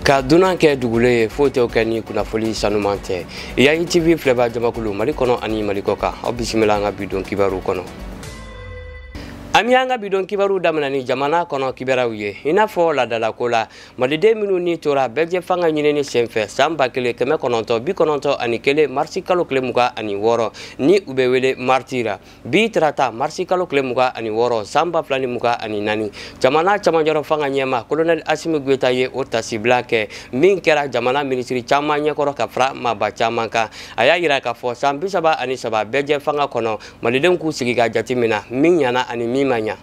ka dunan kɛ dugule ye foyi t'o kɛ ni kunnafoli sanuman tɛ yayi tv filɛba jamakulu mali kɔnɔ ani mali kɔ kan aw bisimila an ka bidon kibaru kɔnɔ an b'an ka bidon kibaru daminɛ ni jamana kɔnɔ kibaruw ye i n'a fɔ ladalako la maliden minnu ni tora bɛɛjɛ fanga ɲinini senfɛ san ba kelen kɛmɛ kɔnɔntɔn bi kɔnɔntɔn ani kelen marisi kalo tile mugan ani wɔɔrɔ ni u bɛ wele mariti ra bi tarata marisi kalo tile muga ani wɔɔrɔ san ba fila ni muga ani naani jamana camanjɔrɔ fanga ɲɛma kolonɛli asimi goyita ye o tasibila kɛ min kɛra jamana minisiri caman ɲɛkɔrɔ ka fara maaba caman kan a y'a yira k'a fɔ san bisaba ani saba bɛɛjɛ fanga kɔnɔ malidenw k'u sigi ka jateminɛ min ɲana ani min ma ɲa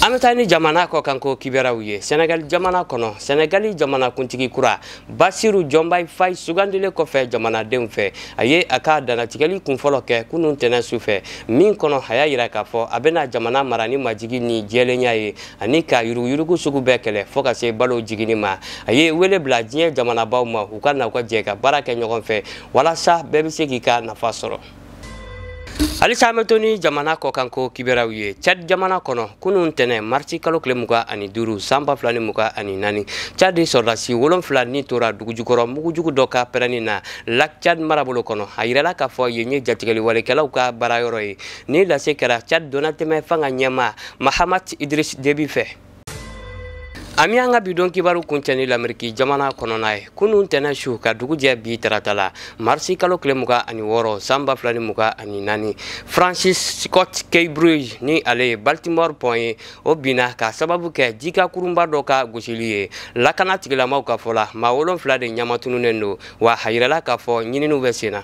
an bɛ taa ni jamana kɔkanko kibaruyaw ye sɛnɛgali jamana kɔnɔ sɛnɛgali jamanakuntigi kura basiru jɔnbayi fayi sugandilen kɔfɛ jamanadenw fɛ a ye a ka danatigɛli kunfɔlɔ kɛ kunun tɛnɛ su fɛ min kɔnɔ a y'a yira k'a fɔ a bɛna jamana mara ni majigi ni jɛlenya ye ani ka yuruguyurugu sugu bɛɛ kɛlɛ fɔɔ ka se balo jiginni ma a ye wele bila diɲɛ jamanabaw ma u ka na u ka jɛ ka baara kɛ ɲɔgɔn fɛ walasa bɛɛ bɛ se k'i ka nafa sɔrɔ halisa an bɛ to ni jamana kɔkanko kibaruyaw ye cad jamana kɔnɔ kunun tɛnɛ marisi kalo tile muga ani duuru san ba fila ni muga ani naani cad sɔrɔdasi wolonfila ni tora dugujukɔrɔ mugujugu dɔ ka pɛrɛnni na lak cad marabolo kɔnɔ a yirala k'a fɔ yen ye jatigɛliwalekɛlaw ka baarayɔrɔ ye nin lase kɛra cad donnatɛmɛ fanga ɲɛma mahamat idris debi fɛ an b'an ka bidon kibaru kuncɛ ni lameriki jamana kɔnɔna ye kunun tɛnɛ su ka dugu jɛ bi tarata la marisi kalo tile muga ani wɔɔrɔ san ba fila ni muga ani naani francis scott key bridge ni ale ye baltimore pɔn ye o binna k'a sababu kɛ jikan kurunba dɔ ka gosili ye lakana tigilamaw ka fɔ la maa wolonfila de ɲamatununen don wa a yirala k'a fɔ ɲininiw bɛ sen na